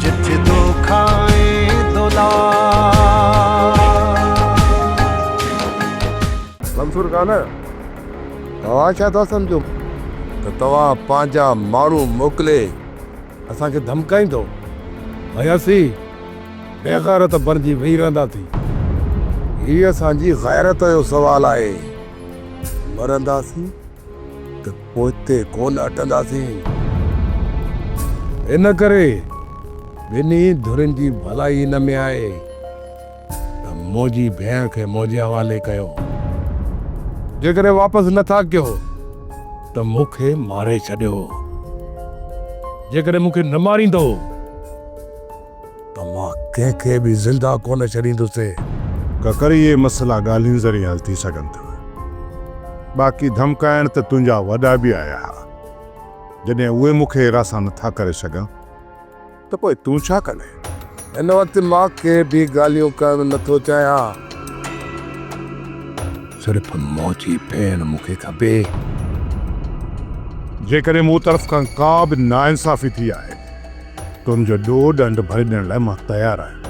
جت دوکا ۽ دولار. منصور خان توهان ڇا ٿا سمجهو ته توهان پنهنجا ماڻهو موڪلي اسان کي ڌمڪائيندو ۽ اسين بيغيرت بڻجي ويهي رهنداسين؟ هي اسان جي غيرت جو سوال آهي، مرنداسين ته. پوء اتي ڪونه اٽنداسين. ان ڪري ٻنهي ڌرين جي ڀلائي ان ۾ آهي ته منهنجي ڀيڻ کي منهنجي حوالي ڪيو. جيڪڏهن واپس نه ٿا ڪيو ته مون کي ماري ڇڏيو. جيڪڏهن مون کي نه ماريندؤ. ته مان ڪنهن کي به زنده ڪونه ڇڏيندوسين. ڪڪر اهي مسئلا ڳالهين ذريعي حل ٿي سگهن ٿا. باقي ڌمڪائڻ ته تنهنجا وڏا به آيا ها. جڏهن اهي مون کي هراسان نٿا ڪري سگهن ته پوء تون ڇا ڪندين؟ هن وقت مان ڪي به ڳالهيون ڪرڻ نٿو چاهيان. صرف منهنجي ڀيڻ مون کي کپي. جيڪڏهن مون طرف کان ڪا به ناانصافي ٿي آهي. تنهنجو ڏوهه ڏنڊ ڀري ڏيڻ لاء مان تيار آهيان،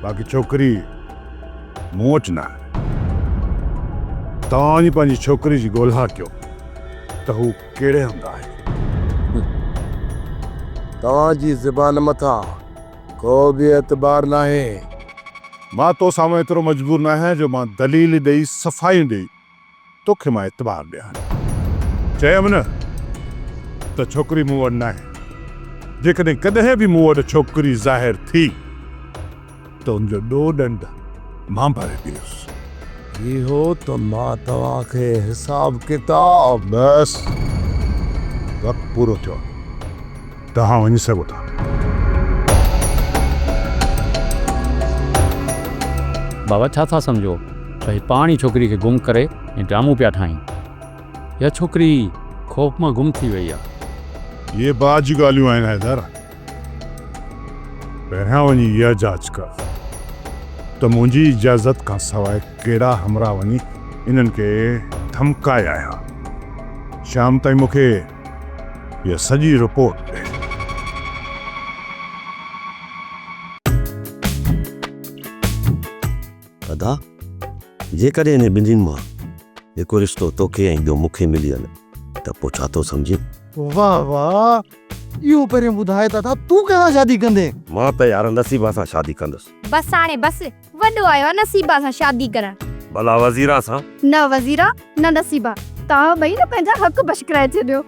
باقي ڇوڪري مون وٽ نه آهي. توهان وڃي پنهنجي ڇوڪري جي ڳولها ڪيو ته هو ڪهڙي هنڌ آهي. توهان جي زبان مٿان ڪو به اعتبار ناهي. مان تو سامهون ايترو مجبور ناهيان جو مان دليل ڏئي صفايون ڏئي. توکي مان اعتبار ڏيان. چيم نه ته ڇوڪري مون وٽ ناهي. جيڪڏهن ڪڏهن به مون وٽ ڇوڪري ظاهر ٿي ته ان جو ڏو ڏنڊ مان ڀري پيس. اهو ته مان توهان کي حساب ڪتاب. بس وقت پورو ٿيو. توهان وڃي سگهو ٿا. بابا ڇا ٿا سمجهو ته هي پاڻ ئي ڇوڪري کي گم ڪري ۽ ڊرامو پيا ٺاهين. اها ڇوڪري ئي خوف مان گم ٿي وئي آهي. اهي بعد جون ڳالهيون آهن حيدر. پهريان وڃي اها جاچ ڪر ته منهنجي اجازت کان سواء ڪهڙا همراهه وڃي انهن کي ڌمڪايا آهيا. شام تائين مون کي هيء سڄي رپورٽ تي. ادا! جيڪڏهن انهن ٻنهين مان هڪ رشتو توکي ۽ ٻيو مون کي مليل ته پوء ڇا ٿو سمجهين؟ واه واه! اهو پهريون ٻڌاء ته ادا تون ڪنهن سان شادي ڪندين؟ مان ته يار نصيبه سان شادي ڪندس. بس هاڻي بس. وڏو آيو آ نصيبا سان شادي ڪرڻ. ڀلا وزيرا سان؟ نه وزيرا نه نصيبا توهان ٻئي نه پنهنجا حق بشڪرائي ڇڏيو.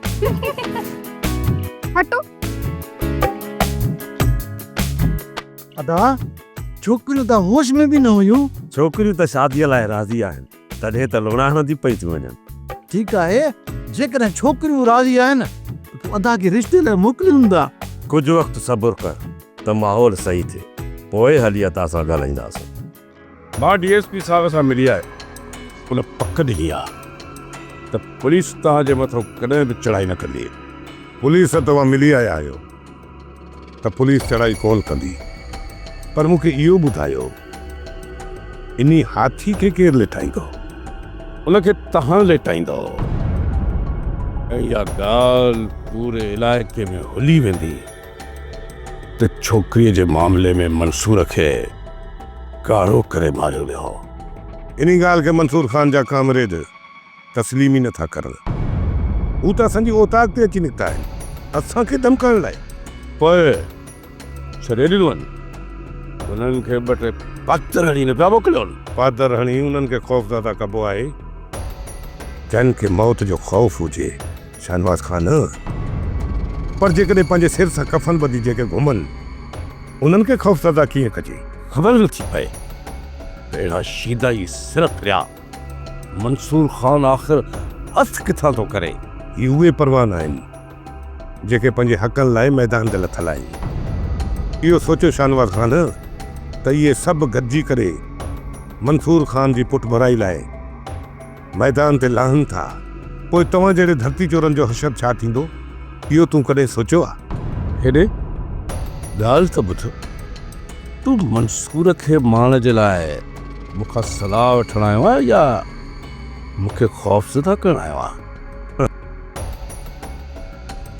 هٽو. ادا ڇوڪريون ته هوش ۾ به نه هيون. ڇوڪريون ته شاديء لاء راضي آهن. تڏهن ته لوڙا هڻنديون پئي ٿيون وڃن. ٺيڪ آهي، جيڪڏهن ڇوڪريون راضي آهن ته تون ادا کي رشتي لاء موڪلي ڏيندا. ڪجهه وقت صبر ڪر ته ماحول صحيح ٿئي، پوء هلي ادا سان ڳالهائينداسون. مان ڊي ايس پي صاحب سان ملي آيو. ان پڪ ڏني آهي ته پوليس توهان جي مٿو ڪڏهن به چڙهائي نه ڪندي. پوليس سان توهان ملي آيا آهيو. ته پوليس چڙهائي ڪونه ڪندي پر مون کي اهو ٻڌايو انهي هاٿي کي ڪير ليٽائيندو؟ ان کي توهان ليٽائيندؤ ۽ اها ڳالهه پوري علائقي ۾ هلي ويندي ته ڇوڪريء جي معاملي ۾ منصور کي ڪاڙهو ڪري ماريو ويو هو. انهي ڳالهه کي منصور خان جا ڪامريڊ تسليم ئي نٿا ڪرن. هو ته اسان جي اوطاق تي اچي نڪتا آهن اسان کي ڌمڪائڻ لاء. پوء ڇڏي ڏنون. انهن کي ٻه ٽي پاتر هڻي نه پيا موڪليون. پاتر هڻي انهن کي خوفزده ڪبو آهي. جن کي موت جو خوف هجي. شاهنواز کان نه پر جيڪڏهن پنهنجي سر سان ڪفن ٻڌي جيڪي گهمن انهن کي خوفزده ڪيئن ڪجي. خبر نٿي پئي ته اهڙا شيدا ئي سر ڦريا. منصور خان آخر اٿ ڪٿان ٿو ڪري؟ هي اهي پروان آهن، جيڪي پنهنجي حقن لاء ميدان تي لٿل آهن. اهو سوچيو شاهنواز خان ته اهي سڀ گڏجي ڪري منصور خان جي پٺڀرائي لاء ميدان تي لهن ٿا، پوء توهان جهڙي ڌرتي چورن جو حشر ڇا ٿيندو، اهو تون ڪڏهن سوچيو آهي؟ هيڏي ڳالهه ته ٻڌ، تون منصور کي ماڻ جي لاء مون کان صلاح وٺڻ آيو آهي يا مون کي خوفزده ڪرڻ آيو آهي؟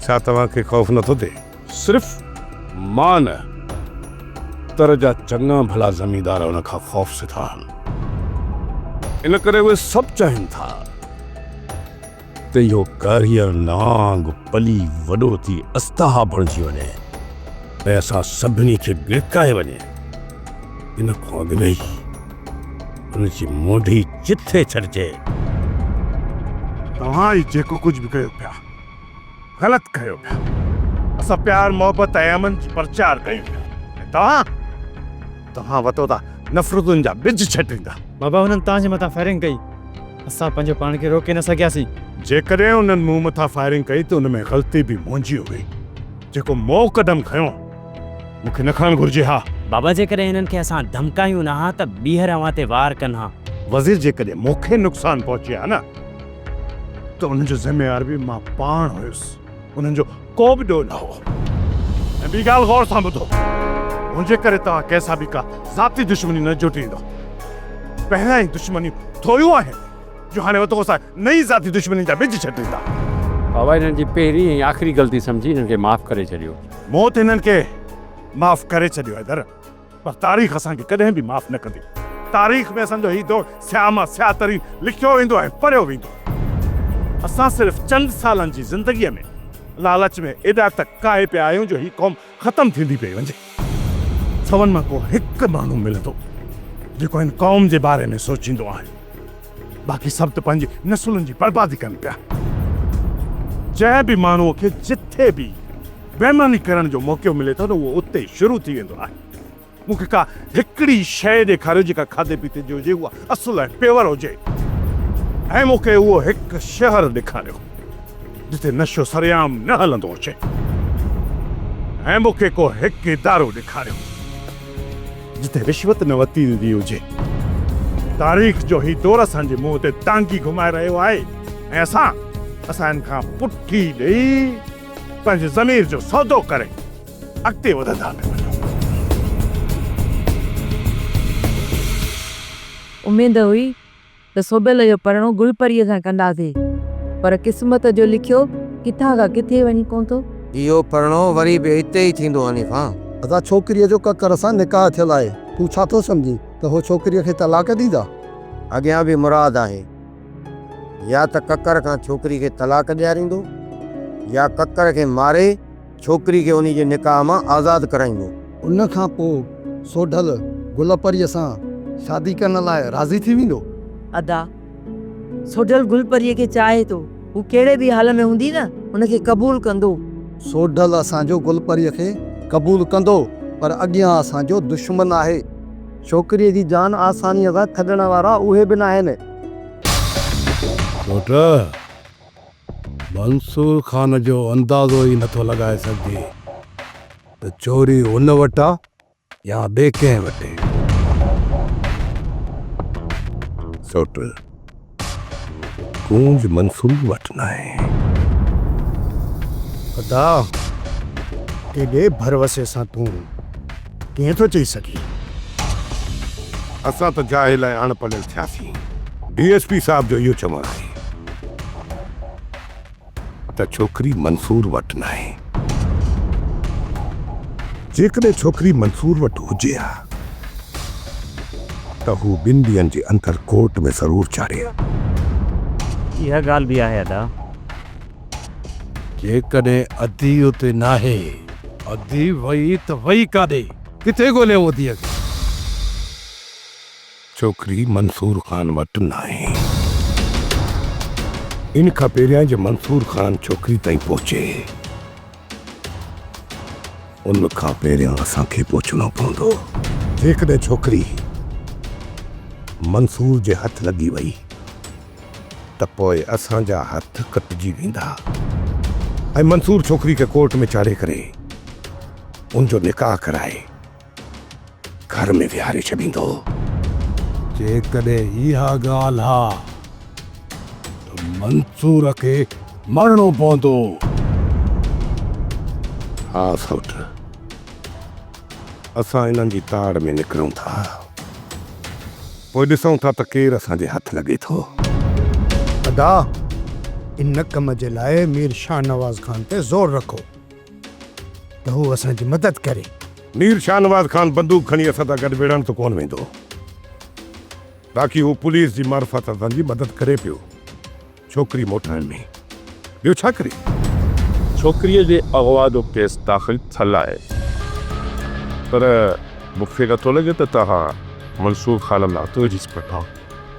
ڇا توهان کي خوف نٿو ٿئي؟ صرف مان نه، اتر جا چڱا ڀلا زميندار ان کان خوفزده آهن. ان ڪري اهي سڀ چاهين ٿا. ته اهو ڪاريئر نانگ پلي وڏو ٿي استها بڻجي وڃي ۽ اسان سڀني کي گرڪائي وڃي. ان کان اڳ ۾ ئي ان جي مونڍي چٿي ڇڏجي. توهان هي جيڪو ڪجهه به ڪيو پيا، غلط ڪيو پيا. اسان پيار، محبت ۽ امن جي پرچار ڪيون پيا ۽ توهان، توهان وتوتا نفرتن جا ٻج ڇٽيندا. بابا هنن توهان جي مٿان فائرنگ ڪئي. اسان پنهنجو پاڻ کي روڪي نه سگهياسين. جيڪڏهن انهن مون مٿان فائرنگ ڪئي ته ان ۾ غلطي به منهنجي هئي. جيڪو مون قدم کنيو، مون کي نه کڻڻ گهرجي ها. بابا جيڪڏهن هنن کي اسان ڌمڪايون نه ها ته ٻيهر اوهان تي وار ڪن ها. وزير جيڪڏهن مون کي نقصان پهچي ها نه ته ان جو ذميوار به مان پاڻ هيس. انهن جو. ڪو به ڏوهه نه هو. ۽ ٻي ڳالهه غور سان ٻڌو، منهنجي ڪري توهان ڪنهن سان به ڪا ذاتي دشمني نه جوٽيندو. پهريان ئي دشمنيون ٿوريون آهن، جو هاڻي وڌو سا نئين ذاتي دشمنين جا ٻج ڇٽيندا. بابا هنن جي پهرين ۽ آخري غلطي سمجهي هنن کي معاف ڪري ڇڏيو. مون ته هنن کي معاف ڪري ڇڏيو حيدر. پر تاريخ اسان کي ڪڏهن به معاف نه ڪندي. تاريخ ۾ اسان جو هي دور سياهه مان سياهه ترين لکيو ويندو ۽ پڙهيو ويندو. اسان صرف چند سالن جي زندگيء ۾ لالچ ۾ ايڏا ته ڪاهي پيا آهيون جو هي قوم ختم ٿيندي پئي وڃي. سون مان ڪو هڪ ماڻهو ملندو جيڪو هن قوم جي باري ۾ سوچيندو آهي. باقي سڀ ته پنهنجي نسلن جي بربادي ڪن پيا. جنهن به ماڻهوء کي جتي به بيماني ڪرڻ جو موقعو ملي ٿو نه اهو اتي ئي شروع ٿي ويندو آهي. مون کي ڪا هڪڙي شيء ڏيکاريو جيڪا کاڌي پيتي جي هجي، اها اصل ۽ پيور هجي ۽ مون کي اهو هڪ شهر ڏيکاريو جتي نشو سرعام نه هلندو هجي ۽ مون کي ڪو هڪ ادارو ڏيکاريو. جتي رشوت نه ورتي ويندي هجي. تاريخ جو هي دور اسان جي منهن تي ٽانگي گهمائي رهيو آهي ۽ اسان اسان هن کان پٺي ڏئي پنهنجي ضمير جو سودو ڪري اڳتي وڌندا پيا وڃون. اميد هئي ته سوڀيل جو پرڻو گل پريء سان ڪنداسي، پر قسمت جو لکيو ڪٿان کان ڪٿي وڃي پهتو. اهو پرڻو وري به اتي ئي ٿيندو حنيفه. ادا ڇوڪريء جو ڪڪر سان نڪاح ٿيل آهي، تون ڇا ٿو سمجهين ته هو ڇوڪريء کي طلاق ڏيندا؟ اڳيان به مراد آهي، يا ته ڪڪر کان ڇوڪري کي طلاق ڏياريندو، يا ڪڪر کي ماري. ڇوڪري کي انهي جي نڪاح مان آزاد ڪرائيندو. ان کان پوء سوڍل گل پريء سان شادي ڪرڻ لاء راضي ٿي ويندو. ادا، سوڍل گل پريء کي چاهي ٿو. هو ڪهڙي به حال ۾ هوندي نه هن کي قبول ڪندو. سوڍل اسان جو گل پريء کي قبول ڪندو، پر اڳيان اسان جو دشمن آهي. ڇوڪريء جي جان آسانيء سان ڇڏڻ وارا اهي به ناهن. سوڍل! منصور خان جو اندازو ئي نٿو لڳائي سگهجي ته چوري هن وٽ آ يا ٻي ڪنهن وٽ. سوٽ، ڪونج منصور وٽ ناهي. خدا، ڪيڏي ڀروسي سان تون. ڪيئن ٿو چئي سگهي؟ اسان ته جاهل ۽ اڻ پڙهيل ٿياسين. ڊي ايس پي صاحب جو اهو چوڻ آهي ته ڇوڪري منصور وٽ ناهي. جيڪڏهن ڇوڪري منصور وٽ هجي ها ته هو ٻن ڏينهن جي اندر ڪورٽ ۾ ضرور چاڙهي ها. اها ڳالهه به آهي ادا. جيڪڏهن ادي اتي ناهي. ادي وئي ته وئي ڪاڏي؟ ڪٿي ڳوليون اديء کي؟ ڇوڪري منصور خان وٽ ناهي. ان کان پهريان جو منصور خان ڇوڪري تائين پهچي، ان کان پهريان اسان کي پهچڻو پوندو. جيڪڏهن ڇوڪري منصور جي هٿ لڳي وئي. ته پوء اسان جا هٿ ڪٽجي ويندا ۽ منصور ڇوڪري کي ڪورٽ ۾ چاڙهي ڪري ان جو نڪاح ڪرائي گهر ۾ ويهاري ڇڏيندو. جيڪڏهن اها ڳالهه ها ته منصور کي مرڻو پوندو. ها سئوٽ. اسان انهن جي تاڙ ۾ نڪرون ٿا، پوء ڏسون ٿا ته ڪير اسان جي هٿ لڳي ٿو. ادا، ان ڪم جي لاء مير شاهنواز خان تي زور رکو ته هو اسان جي مدد ڪري. مير شاهنواز خان بندوق کڻي اسان سان گڏ وڙهڻ ته ڪونه ويندو، باقي هو پوليس جي معرفت اسان جي مدد ڪري پيو. ڇوڪري موٽائڻ ۾ ٻيو ڇا ڪري؟ ڇوڪريء جي اغوا جو ڪيس داخل ٿيل آهي پر مون کي نٿو لڳي ته توهان منصور خان ۾ هٿ وجهي سگهندا.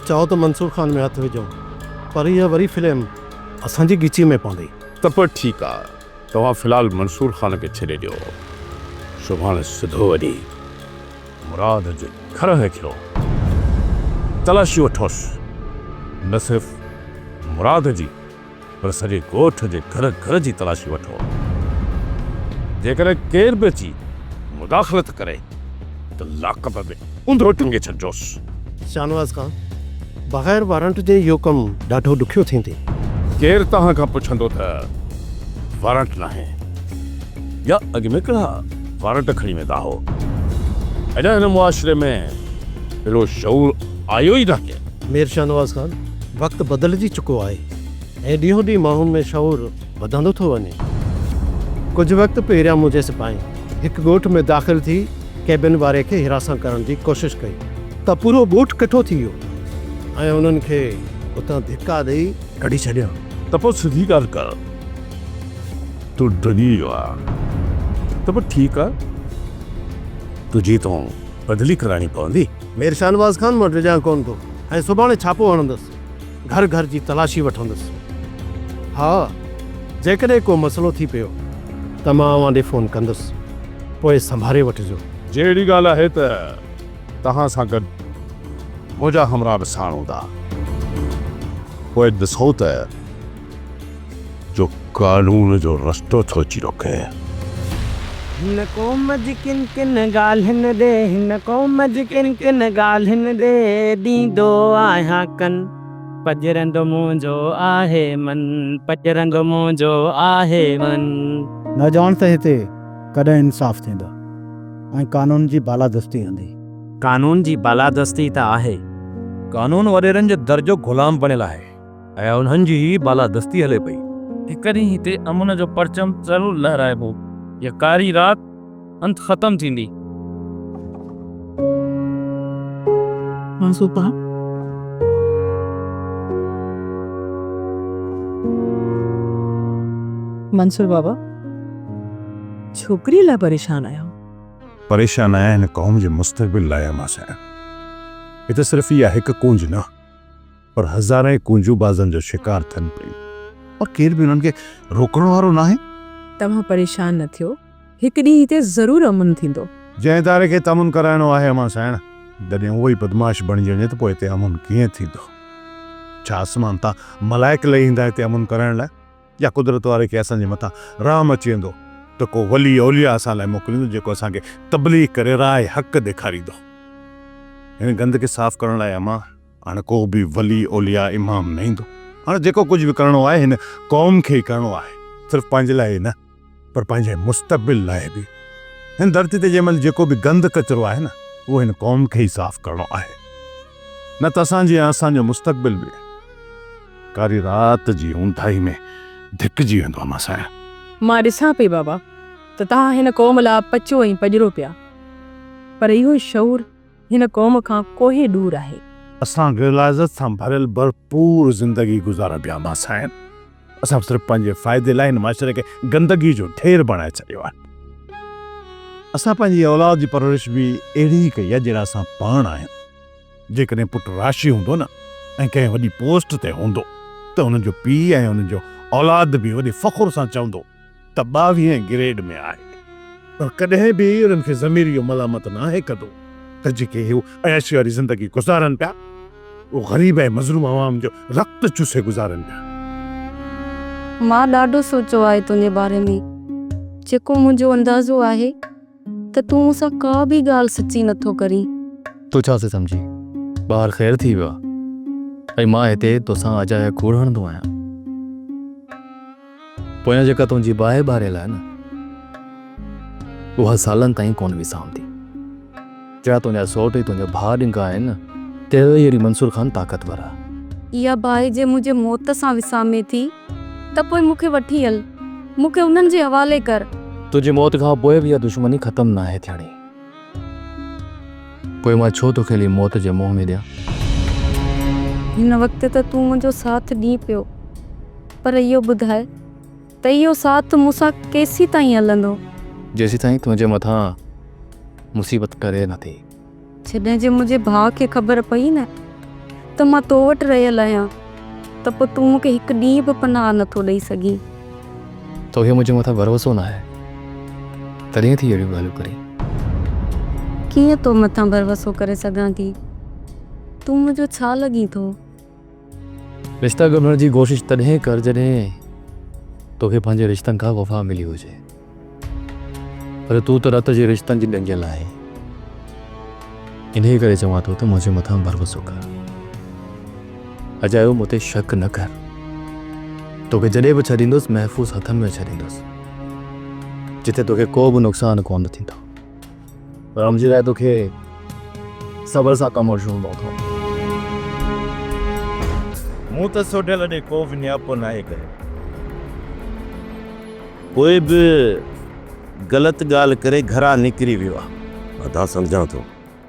چئو ته منصور خان ۾ هٿ وجهو پر اها وري فلم اسان جي ڳچيء ۾ پوندي. ته پوء ٺيڪ آ توهان في الحال منصور خان کي ڇڏي ڏيو سڀاڻي سڌو وڃي. مراد جي گهر هيٺيون تلاشيون وٺوس، نه صرف مراد جي پر سڄي ڳوٺ جي گهر گهر جي تلاشي وٺو، جيڪڏهن ڪير به اچي مداخلت ڪري ته لاڪپ ۾ اونڌو ٽنگي ڇڏجوس. شاهنواز خان، بغير وارنٽ جي اهو ڪم ڏاڍو ڏکيو ٿيندي. ڪير توهان کان پڇندو ته وارنٽ ناهي. يا اڳ ۾ ڪهڙا وارنٽ کڻي ويندا هئو؟ اڃا هن معاشري ۾ اهڙو شعور آيو ئي ناهي. مير شاهنواز خان، وقت بدلجي چڪو آهي ۽ ڏينهون ڏينهن ماڻهن ۾ شعور وڌندو ٿو وڃي. ڪجهه وقت پهريان منهنجي سپاهين هڪ ڳوٺ ۾ داخل ٿي ڪيبن واري کي حراسان ڪرڻ جي ڪوشش ڪئي ته پورو ڳوٺ ڪٺو ٿي ويو ۽ انهن کي اتان ڌڪا ڏئي ڪڍي ڇڏيائون. ته پوء سڌي ڳالهه ڪر. تون ڊڄي ويو آهي ته پوء ٺيڪ آهي، تنهنجي تون بدلي ڪرائڻي پوندي. مير شاهنواز خان مان ڊڄان ڪونه ٿو ۽ سڀاڻي ڇاپو هڻندس، گهر گهر جي تلاشي وٺندس. ها، جيڪڏهن ڪو مسئلو ٿي پيو ته مان اوهان ڏي فون ڪندس، پوء سنڀاري وٺجو. جي اهڙي ڳالهه آهي ته توهان سان گڏ منهنجا همراهه به ساڻ هوندا، پوء ڏسو ته. جو قانون جو رستو ٿو اچي روڪين. هن قوم جي ڪن ڪن ڳالهين ڏي هن قوم جي ڪن ڪن ڳالهين ڏي ڏيندو آهيان ڪن پڄرنگ منهنجو آهي من پڄرنگ منهنجو آهي من. نه ڄاڻ ته هتي ڪڏهن انصاف ٿيندو ۽ قانون جي بالادستي هوندي. قانون جي بالادستي ته آهي. قانون وڏيرن جو درجو غلام بڻيل آهي. ۽ انهن جي ئي بالادستي هلي پئي. هڪ ڏينهن هتي امن جو پرچم ضرور لهرائبو. هيء ڪاري رات انت ختم ٿيندي. منصوبا. منصور بابا، ڇوڪريء لاء پريشان آهيو؟ پريشان آهيان هن قوم جي مستقبل لاء اماس سائين. هي ته صرف اها هڪ ڪونج نه. پر هزارين ڪونجون بازن جو شڪار ٿين پيون پر ڪير به انهن کي روڪڻ وارو ناهي. توهان پريشان نه ٿيو هڪ ڏينهن هتي ضرور امن ٿيندو. جنهن اداري کي هتي امن ڪرائڻو آهي امان سائڻ جڏهن اهو ئي بدمعاش بڻجي وڃي ته پوء هتي امن ڪيئن ٿيندو؟ ڇا آسمان تان ملائڪ لهي ايندا هتي امن ڪرائڻ لاء يا قدرت واري کي اسان جي مٿان رحم اچي ويندو ته ڪو ولي اولياء اسان لاء موڪليندو جيڪو اسان کي تبليغ ڪري راهه حق ڏيکاريندو؟ هن گند کي صاف ڪرڻ لاء امان هاڻ ڪو به ولي اولياء امام نه ايندو. هاڻ جيڪو ڪجهه به ڪرڻو آهي هن قوم کي ئي ڪرڻو آهي. صرف پنهنجي لاء ئي نه پر پنهنجي مستقبل لاء به. هن ڌرتي تي جنهن مهل جيڪو به گند ڪچرو آهي نه اهو هن قوم کي ئي صاف ڪرڻو آهي. نه ته اسان جي ۽ اسان جو مستقبل به ڪاري رات جي اونداهي ۾ ڌڪجي ويندو امان سائين. مان ڏسان پئي بابا ته توهان هن قوم لاء پچو ۽ پڄرو پيا پر اهو شعور. هن قوم کان ڪوهي ڏور آهي. اسان غلاظت سان ڀريل ڀرپور زندگي گذارڻ پيا امان سائين. اسان صرف پنهنجي فائدي لاء هن معاشري کي گندگي جو ڍير بڻائي ڇڏيو آهي. اسان پنهنجي اولاد جي پرورش به اهڙي ئي ڪئي آهي جهڙا اسان پاڻ آهيون. جيڪڏهن پٽ راشي هوندو نه ۽ ڪنهن وڏي پوسٽ تي هوندو ته ان جو پيء ۽ ان جو اولاد به وڏي فخر سان چوندو ته ٻاويهين گريڊ ۾ آهي پر ڪڏهن به انهن کي ضمير اهو ملامت ناهي ڪندو ته جيڪي هو عياشي واري زندگي گذارن پيا اهو غريب ۽ مظلوم عوام جو رت چوسي گذارن پيا. مان ڏاڍو سوچيو آهي تنهنجي باري ۾ جيڪو منهنجو اندازو آهي ته تون مون سان ڪا به ڳالهه سچي نٿو ڪرين. تون ڇا ٿي سمجهين ٻاهر خير ٿي ويو آهي ۽ مان هتي توسان اجايا کوڙ هڻندو آهيان. پويان جيڪا تنهنجي باهه ٻاريل آهي نه، اها سالن تائين ڪونه وسامندي. جا تنهنجا سوٽ ۽ تنهنجا ڀاء ڏنگا آهن نه، تهڙو ئي وري منصور خان طاقتور آهي. اها باهه جي منهنجي موت سان وسامين ٿي ته پوء مون کي وٺي هل، مون کي انهن جي حوالي ڪر. تنهنجي موت کان پوء به اها دشمني ختم ناهي ٿيڻي. پوء مان ڇو توکي علي موت جي منهن ۾ ڏيان؟ هن وقت ته تون منهنجو ساٿ ڏين پيو پر اهو ٻڌاء ته اهو ساٿ مون سان ڪيسيتائين هلندو؟ جيسيتائين تنهنجي مٿان مصيبت ٽري نه ٿي. جڏهن جي منهنجي ڀاء کي خبر پئي نه ته مان تو وٽ رهيل آهيان. ته پوء تون مون کي هڪ ڏينهن به پناهه نه ٿو ڏئي سگهين. توکي منهنجي مٿان ڀروسو ناهي تڏهن ٿي اهڙيون ڳالهيون ڪرين. ڪيئن تو مٿان ڀروسو ڪري سگهان ٿي. تون منهنجو ڇا لڳين ٿو. رشتا ڳنڍڻ جي ڪوشش تڏهن ڪر جڏهن توکي پنهنجي رشتن کان وفا ملي هجي. پر تون ته رت جي رشتن جي ڏنگيل آهين، انهيء ڪري چوان ٿو ته منهنجي مٿان ڀروسو ڪر. اجايو مون تي شڪ نه ڪر. توکي جڏهن به ڇڏيندس، محفوظ هٿن ۾ ڇڏيندس، جتي توکي ڪو به نقصان ڪونه ٿيندو. رامجي لاء توکي صبر سان ڪم وٺڻو پوندو. مون ته سوڍل ڏي ڪو به نياپو ناهي ڪيو. پوء به غلط ڳالهه ڪري گهران نڪري ويو آ. ادا سمجهان ٿو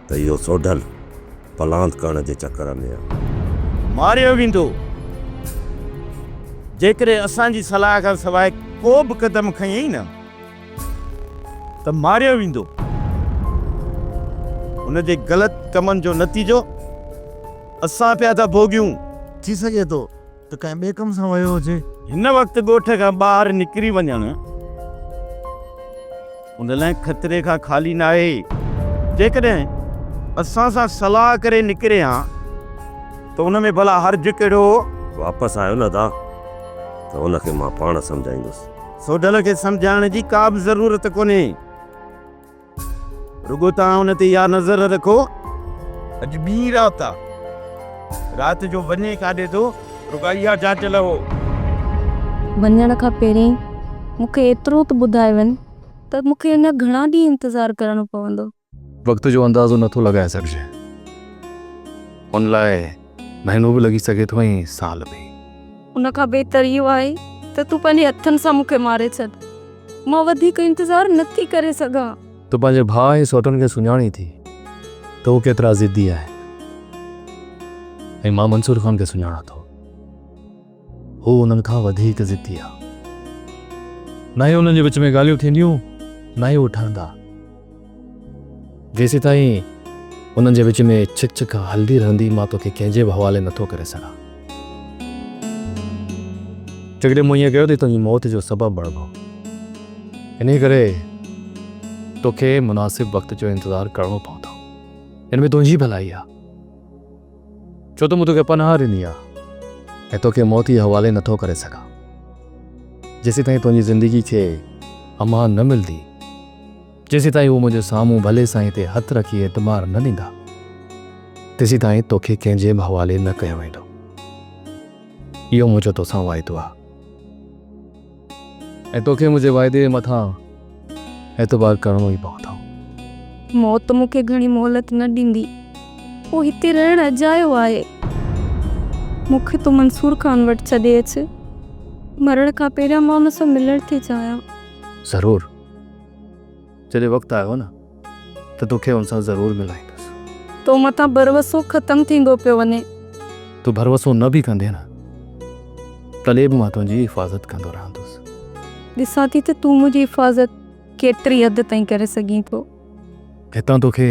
ته اهو سوڍل پلاند ڪرڻ جي چڪر ۾ آ. ماريو ويندو جيڪڏهن اسان جي صلاح کان سواء ڪو به قدم کنيئي نه. ته ماريو ويندو. هن جي غلط ڪمن جو نتيجو اسان پيا ٿا ڀوڳيون. ٿي سگهي ٿو ته ڪنهن ٻئي ڪم سان ويو هجي. هن وقت ڳوٺ کان ٻاهر نڪري وڃڻ ان لاء خطري کان خالي ناهي. جيڪڏهن اسان سان صلاح ڪري نڪري ها ته ان ۾ ڀلا حرج ڪهڙو هو؟ واپس آيو نه ادا ته هن کي مان پاڻ سمجهائيندس. سوڍل کي سمجهائڻ جي ڪا به ضرورت ڪونهي. رڳو توهان ان تي اها نظر رکو اڄ ٻي رات آ. رات جو وڃي ڪاڏي ٿو رڳو اها جاچ لهو. وڃڻ کان پهرين مون کي ايترو ته ٻڌائي وڃ ته مون کي اڃا گهڻا ڏينهن انتظار ڪرڻو پوندو. وقت جو اندازو نه ٿو لڳائي سگهجي. ان لاء مهينو به لڳي سگهي ٿو ۽ سال به. ان کان بهتر اهو آهي ته تون پنهنجي هٿن سان مون کي ماري ڇڏ. مان وڌيڪ انتظار نه ٿي ڪري سگهان. تون پنهنجي ڀاء ۽ سوٽن کي سڃاڻين ٿي ته هو ڪيترا ضدي آهن ۽ مان منصور خان کي سڃاڻان ٿو. هو انهن کان وڌيڪ ضدي آ. نه ئي انهن جي وچ ۾ ڳالهيون ٿينديون نه ئي هو ٺهندا. جيسيتائين انهن جي وچ ۾ ڇڪ ڇڪ هلندي رهندي مان توکي ڪنهن جي به حوالي نه ٿو ڪري سگهان. جيڪڏهن مون ائين ڪيو ته هي تنهنجي موت جو سبب بڻبو. انهيء ڪري توکي مناسب وقت جو انتظار ڪرڻو پوندو. ان ۾ تنهنجي ڀلائي آ. ڇو ته مون توکي پناهه ڏني آهي ۽ توکي موت جي حوالي نٿو ڪري سگهان. جيسيتائين تنهنجي زندگي کي امان نه ملندي، جيسيتائين هو منهنجي سامهون ڀلي سائين تي هٿ رکي اعتبار نه ڏيندا، تيسيتائين توکي ڪنهن جي به حوالي نه ڪيو ويندو. اهو منهنجو توسان واعدو آهي. ۽ توکي منهنجي واعدي جي مٿان اعتبار ڪرڻو ئي پوندو. موت مون کي گهڻي مهلت نه ڏيندي. پوء هتي رهڻ اجايو آهي. مون کي تون منصور خان وٽ ڇڏي اچ. مرڻ کان پهريان مان ان سان ملڻ ٿي چاهيان. ضرور. جڏهن وقت آيو نه ته توکي هن سان ضرور ملائيندس. تو مٿان ڀروسو ختم ٿيندو پيو وڃي. تون ڀروسو نه به ڪندين ها تڏهن به مان تنهنجي حفاظت ڪندو رهندس. ڏسان ٿي ته تون منهنجي حفاظت ڪيتري حد تائين ڪري سگهين ٿو. هتان توکي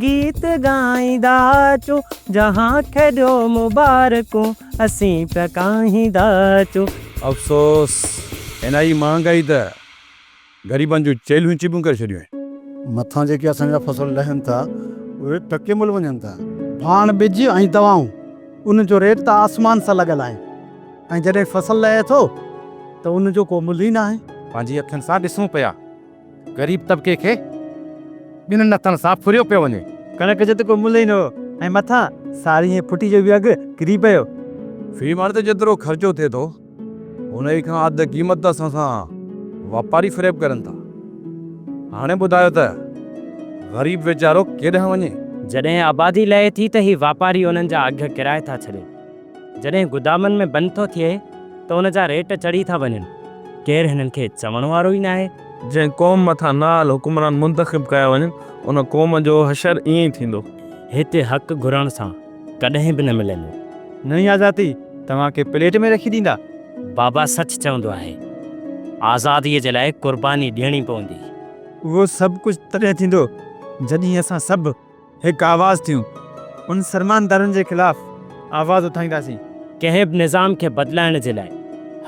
گيت ڳائيندا اچو جهان کي ڏيو مبارڪون اسين پيا ڳائيندا اچو. افسوس هن هي مهانگائي ته غريبن جون چيلهيون چيٻون ڪري ڇڏيون آهن. مٿان جيڪي اسان جا فصل لهن ٿا اهي ٽڪي مل وڃن ٿا. ڀاڻ ٻج ۽ دوائون ان جو ريٽ ته آسمان سان لڳل آهي ۽ جڏهن فصل لهي ٿو ته ان جو ڪو ملهه ئي ناهي. پنهنجي اکين سان ڏسون پيا. غريب طبقي کي ٻن نٿن سان ڦريو پيو وڃي. ڪڻڪ جو ته ڪو ملهه ئي نه هو ۽ مٿان ساري ۽ ڦٽي جو به اگهه ڪري پيو. في مڻ تي جيترو خرچو ٿئي ٿو، ان ئي کان اڌ قيمت ته اسان سان واپاري فريب ڪرن ٿا. هاڻي ٻڌايو ته غريب ويچارو ڪيڏانهن وڃي؟ جڏهن آبادي لهي ٿي ته هي واپاري انهن جا اگهه ڪرائي ٿا ڇڏين. جڏهن گدامن ۾ بند ٿو ٿئي ته ان جا ريٽ چڙهي ٿا وڃن، ڪير هنن کي چوڻ وارو ئي ناهي. جنهن قوم مٿان نااهل حڪمران منتخب ڪيا وڃن، ان قوم جو حشر ائين ئي ٿيندو. هتي حق گهرڻ سان ڪڏهن به نه ملندو. نئين آزادي توهان کي پليٽ ۾ رکي ڏيندا. بابا سچ چوندو آهي. آزاديء جي لاء قرباني ڏيڻي پوندي. اهو سڀ ڪجهه تڏهن ٿيندو جڏهن اسان سڀ. هڪ آواز ٿيون. انهن فرمانبردارن جي خلاف آواز اٿائينداسين. ڪنهن به نظام کي بدلائڻ جي لاء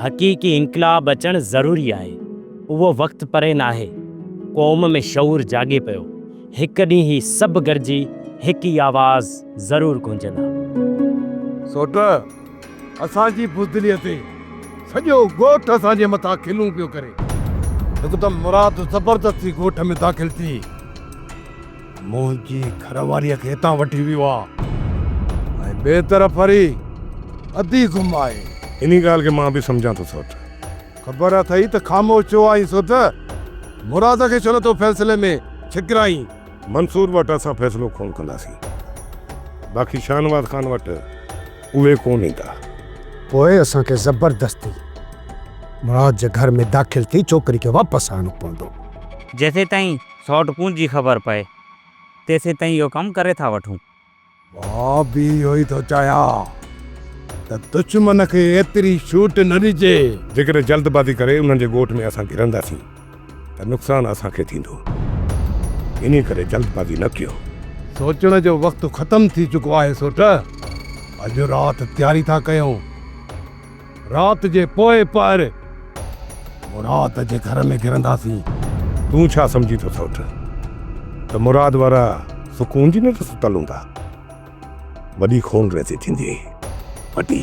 حقيقي انقلاب اچڻ ضروري آهي. اهو وقت پري ناهي. قوم ۾ شعور جاڳي پيو. هڪ ڏينهن هي سڀ گڏجي هڪ ئي آواز ضرور گونجندا. سوٽ، اسان جي بزدليء تي سڄو ڳوٺ اسان جي مٿان کلون پيو ڪري. هڪدم مراد زبردستي ڳوٺ ۾ داخل ٿي. منهنجي گهر واريء کي هتان وٺي ويو آ ۽ ٻئي طرف وري ادي گم آهي. انهي ڳالهه کي مان به سمجهان ٿو سوڍ. خبر اٿئي ته خاموش ڇو آهين سوڍ؟ مراد کي ڇو نه ٿو فيصلي ۾ ڇڪرائين؟ منصور وٽ اسان فيصلو ڪونه ڪنداسين. باقي شاهنواز خان وٽ اهي ڪونه ايندا. پوء اسان کي زبردستي مراد جي گهر ۾ داخل ٿي ڇوڪري کي واپس آڻڻو پوندو. جيسيتائين سئوٽ ڪون جي خبر پئي تيسين تائين اهو ڪم ڪري ٿا وٺون. مان به اهو ئي ٿو چاهيان ته دشمن کي ايتري ڇوٽ نه ڏجي. جيڪڏهن جلد بازي ڪري انهن جي ڳوٺ ۾ اسان گهرنداسين ته نقصان اسان کي ٿيندو. انهي ڪري جلد بازي نه ڪيو. سوچڻ جو وقت ختم ٿي چڪو آهي سئوٽ. اڄ رات تياري ٿا ڪيون. رات جي پوئين پهر مراد جي گهر ۾ گهرنداسين. تون ڇا سمجهين ٿو سوٽ ته مراد وارا سڪون جي ننڊ ستل هوندا. وڏي خون ريزي ٿيندي وڏي.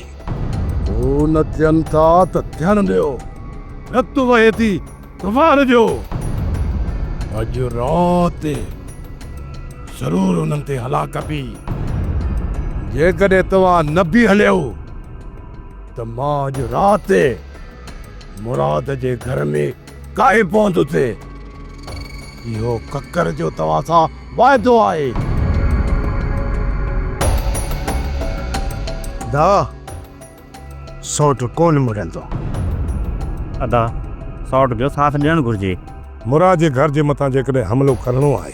هو نه ٿين ٿا ته ٿيڻ ڏيو. رت وهي ٿي. ڪفار جو اڄ رات ضرور انهن تي هلاڪ ڪبي جيڪڏهن توهان نه به هليو ته مان اڄ رات مراد جي گهر ۾ ڪاهي پوندس اهو ڪڪر جو توهان سان واعدو آهي دا سئوٽ ڪونه مڙندو. ادا سئوٽ جو ساٿ ڏيڻ گهرجي. مراد جي گهر جي مٿان جيڪڏهن حملو ڪرڻو آهي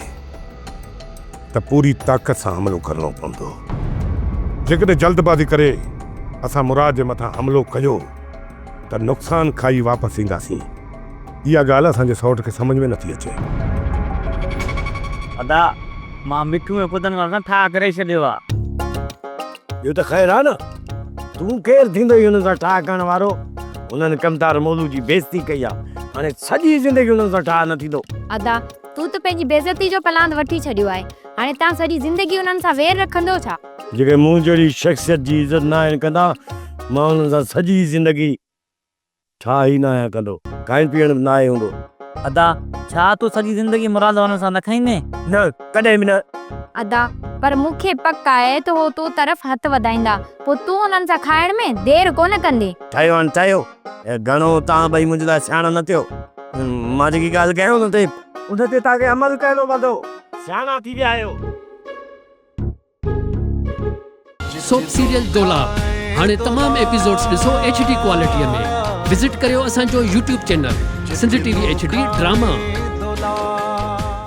ته پوري طاقت سان حملو ڪرڻو پوندو. جيڪڏهن جلد بازي ڪري اسان مراد جي مٿان حملو ڪيو ته نقصان کائي واپس اينداسين. اها ڳالهه اسان جي سئوٽ کي سمجهه ۾ نٿي اچي. ادا مان مٺو ۽ ڦدن وارن سان ٺاهه ڪري ڇڏيو آهي. ٻيو ته خير آ نه، تون ڪير ٿيندوئي انهن سان ٺاهه ڪرڻ وارو؟ انهن ڪمتار مولو جي بيعزتي ڪئي آ، هاڻي سڄي زندگي انهن سان ٺاهه نه ٿيندو. ادا، تون ته پنهنجي بيعزتي جو پلاند وٺي ڇڏيو آهي، هاڻي تان سڄي زندگي انهن سان وير رکندو ڇا؟ جيڪي مون جهڙي شخصيت جي عزت ناهن ڪندا، مان انهن سان سڄي زندگي ڇا هي نه آهيان ڪندو. کائڻ پيئڻ به ناهي هوندو. ادا ڇا تون سڄي زندگي مراد وارن سان نه کائيندين؟ نه ڪڏهن به نه. ادا پر مون کي پڪ آهي ته هو تو طرف هٿ وڌائيندا پوء تون انهن سان کائڻ ۾ دير ڪونه ڪندين. ٺهيو هاڻ ٺهيو. گهڻو توهان ٻئي منهنجي لاء سياڻا نه ٿيو. مان جيڪي ڳالهه ڪيانو نه تي. ان تي توهان کي عمل ڪرڻو پوندو. سياڻا ٿي ويا آهيو. سوپ سيريل دولاب هاڻي تمام ايپيسوڊز ڏسو ايڇ ڊي ڪوالٽي ۾ وزٽ ڪريو اسان جو YouTube channel Sindh T V H D drama.